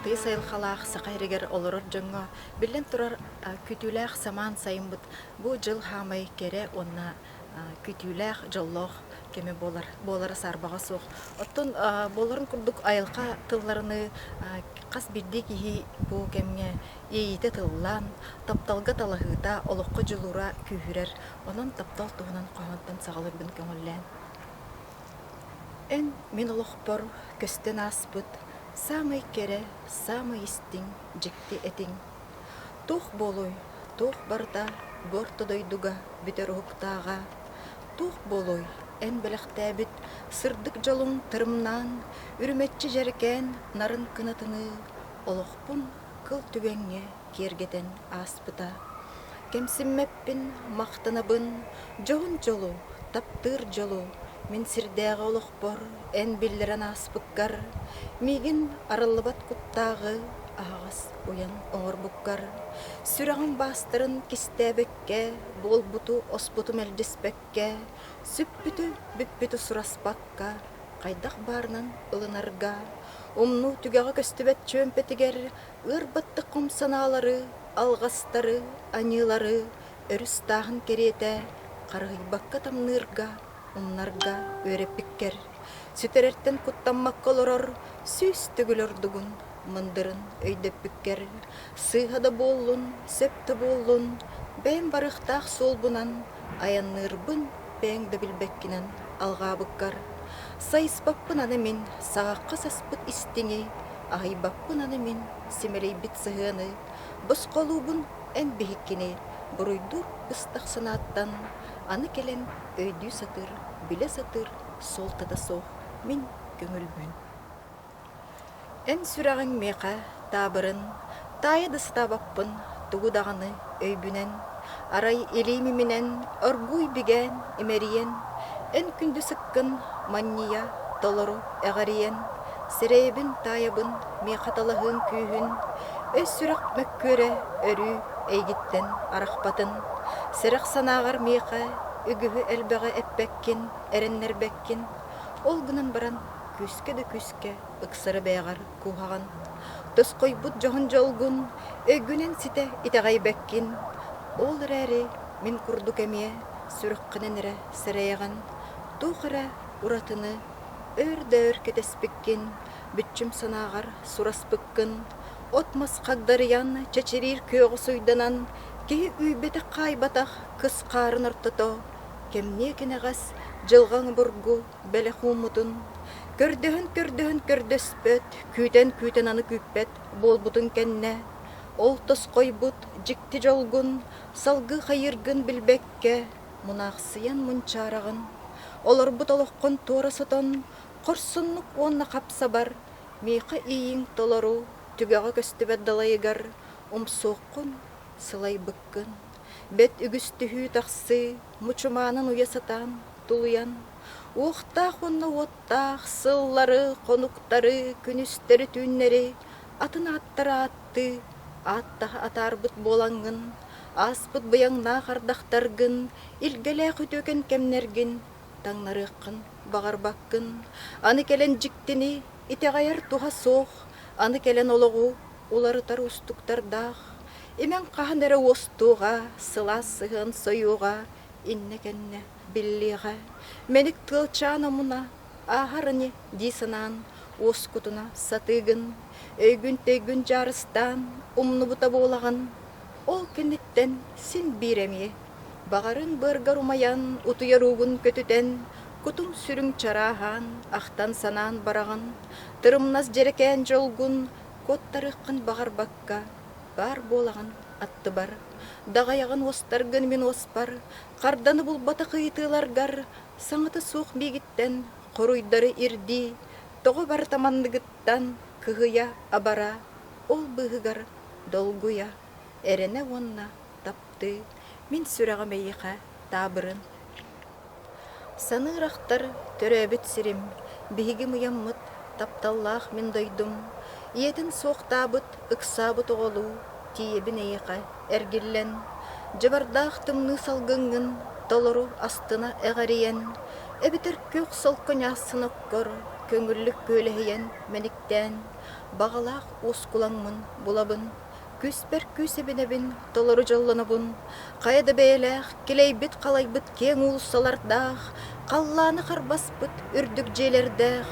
тыйыс айылхалаах Саха иригэр олорор дьоҥҥо, биллэн турар, күүтүүлээх самаан сайыммыт бу дьыл хаамай кэрэ уонна күүтүүлээх дьоллоох кэми буолар буолара саарбаҕа суох оттон буоларын курдук айылҕа тылларыныы хас биирдии киһи бу кэмҥэ иэйиитэ тыллаан тапталга талаһыыта олоххо дьулуура күүһүрэр онон таптал туһунан хоһоонтон саҕалыырбын көҥүллээн эн мин олохпор көстөн ааспыт саамай кэрэ саамай истиҥ дьикти этиҥ Туох буолуой, туох барыта бу орто дойдуга бүтэр уһуктааҕа, туох буолуой, эн бэлэхтээбит сырдык дьолуҥ тырымнаан, үрүмэччи дьэрикээн нарын кынатыныы олохпун кыл түгэҥҥэ киэргэтэн ааспыта. Кэмсиммэппин махтанабын, дьоһун дьолу, таптыыр дьолу мин сирдээҕи олохпор эн биллэрэн ааспыккар, миигин арыллыбат куттааҕы аһаҕас уйан оҥорбуккар, сүрэҕиҥ баастарын кистээбэккэ, буолбуту-оспуту мэлдьиспэккэ, сүппүтү-бүппүтү сураспакка, хайдах баарынан ылынарга, умнуу түгэҕэ көстүбэт чүөмпэтигэр ыар баттык хом санаалары, алҕастары, аньыылары өрүс тааһын кэриэтэ харыһыйбакка тамныырга Умнарга үөрэппиккэр, сүтэрэртэн куттаммакка олорор сүүс төгүл ордугун, мындырын өйдөппүккэр, сыыһа да буоллун, сөп да буоллун, бэйэм барыахтаах суолбунан айанныырбын бэйэҥ да билбэккинэн алҕаабыккар, сайыспаппын аны мин саҕахха саспыт истиҥи, аһыйбаппын аны мин симэлийбит сыһыаны, босхолуубун эн биһиккини буруйдуур ыстах санааттан аны кэлэн өйдүү сатыыр, билэ сатыыр суолтата суох мин көҥүлбүн. Эн сүрэҕиҥ миэхэ таабырын, таайа да сатаабаппын тугу даҕаны өйбүнэн, арай илиим иминэн оргууй бигээн имэрийэн, эн күндү сыккын манньыйа толору эҕэрийэн, сирэйэбин таайабын миэхэ талаһыым күүһүн, өс-сүрэх мөккүөрэ өрүү эйигиттэн арахпатын, сэрэх санааҕар миэхэ үгүһү элбэҕи эппэккин, эрэннэрбэккин, ол гынан баран күүскэ да күүскэ ыксары бэйэҕэр кууһаҕын, тосхойбут дьоһун дьолгун өйгүнэн ситэ итэҕэйбэккин, ол эрээри мин курдук эмиэ сүрэххинэн эрэ сэрэйэҕин, туох эрэ уратыны өөр да өр кэтэспиккин, Бүччүм санааҕар сураспыккын, от-мас хагдарыйан, чэчириир күөҕү суйданан, киһи үүйбэтэх-хаайбатах кыс хаарын ортото, кэмниэ-кэнэҕэс дьылҕаҥ обургу бэлэх ууммутун, көрдөһөн-көрдөһөн көрдөспөт, күүтэн-күүтэн аны күүппэт буолбутун кэннэ, ол тосхойбут дьикти дьолгун, салгыы хайыыргын билбэккэ, мунаахсыйан мунчаараҕын, олорбут олоххун туора сотон, Хорсуннук уонна хап-сабар, миэхэ ииҥ толору түгэҕэ көстүбэт далайыгар умсуоххун, сылайбыккын. Бэт үгүс түһүү-тахсыы мучумаанын уйа сатаан тулуйан, уохтаах уонна уоттаах сыллары, хонуктары, күнүстэри-түүннэри атын ааттары ааттыы, ааттаһа атаарбыт буолаҥҥын, ааспыт быйаҥнаах ардахтаргын, илгэлээх үтүөкэн кэмнэргин Таҥнарыаххын баҕарбаккын, аны кэлэн дьиктини итэҕэйэр туһа суох, аны кэлэн олоҕу уларытар уустуктардаах, имэҥ хаһан эрэ уостуоҕа, сылаас сыһыан сойуоҕа иннэ-кэннэ биллиэҕэ. Мэник тыалчаан омуна ааһар ини дии санаан уоскутуна сатыыгын, өйгүн-төйгүн дьаарыстаан умнубута буолаҕын. Ол кэнниттэн син биир эмиэ, баҕарын быаргар умайан, утуйар уугун көтүтэн, кутум-сүрүҥ чарааһаан, ахтан-санаан бараҕын, тырымнас дьэрэкээн дьолгун куоттарыаххын баҕарбакка, баар буолаҕын аттыбар, даҕайаҕын уостаргын мин уоспар, харданы булбатах ыйытыыларгар саҥата суох миигиттэн хоруйдары ирдии, тоҕо барыта манныгыттан кыһыйа-абара Ол быыһыгар долгуйа, эрэнэ уонна таптыы мин сүрэҕим эйиэхэ таабырын. Саныыр ахтар төрөөбүт сирим, биһиги мыйаммыт тапталлаах мин дойдум, ийэтин суохтаабыт, ыксаабыт оҕолуу тиийэбин эйиэхэ эргиллэн, дьабардаах тымныы салгыҥҥын толору астына эҕэрийэн, эбэтэр күөх солко ньаассын оккор көҥүллүк күөлэһийэн мэниктээн, Баҕалаах уускулаҥмын булабын, Күүспэр күүс эбинэбин, Толору дьоллонобун. Хайа да бэйэлээх, Килэйбит-халайбыт киэҥ уулуссалардаах, Халлааны харбаспыт үрдүк дьиэлэрдээх,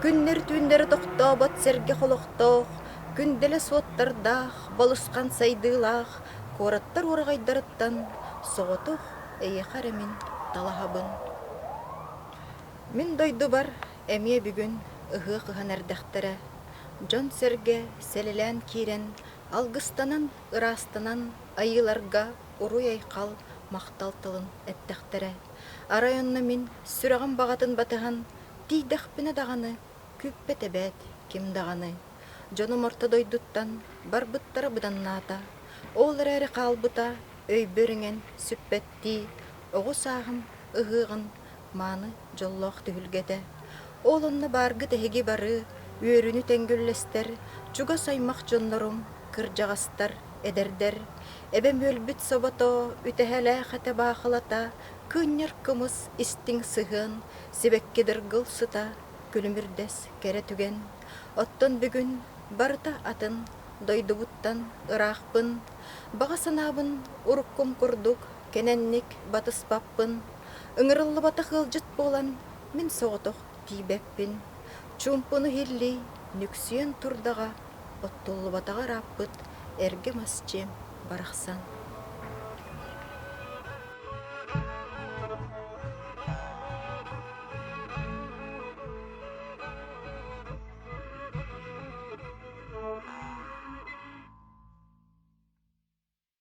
Күннэр-түүннэри тохтообот сэргэх олохтоох, Күндэлэс уоттардаах, Балысхан сайдыылаах куораттар ураҕайдарыттан Соҕотох эйиэхэ эрэ мин талаһабын. Мин дойдубар Эмиэ бүгүн ыһыах ыһан эрдэхтэрэ, дьон-сэргэ сэлэлээн киирэн, алгыстанан, ыраастанан айыыларга уруй-айхал, махтал тылын эттэхтэрэ. Арай онно мин сүрэҕим баҕатын батыһан, тиийдэхпинэ даҕаны, күппэт эбээт, ким даҕаны. Дьонум орто дойдуттан барбыттара быданнаата. Ол эрээри хаалбыта өйбө үрүҥэн сүппэттии, оҕу сааһым ыһыаҕын мааны дьоллоох түһүлгэтэ. Ол онно бааргыт эһиги бары үөрүүнү тэҥгүллэстэр, чугас аймах дьоннорум, кырдьаҕастар, эдэрдэр, эбэм үөлбүт собото, үтэһэлээх этэ баахылата, кыынньар кымыс истиҥ сыһыан, сибэкки дыргыл сыта, күлүмүрдэс кэрэ түгэн. Оттон бүгүн барыта атын, дойдубуттан ыраахпын, баҕа санаабын уруккум курдук Кэнэнник батыспаппын, ыҥырыллыбатах ыалдьыт буолан, мин соҕотох тиийбэппин. Чуумпуну иһиллии нүксүйэн турдаҕа, оттуллубатаҕа ырааппыт эргим асчы барахсан.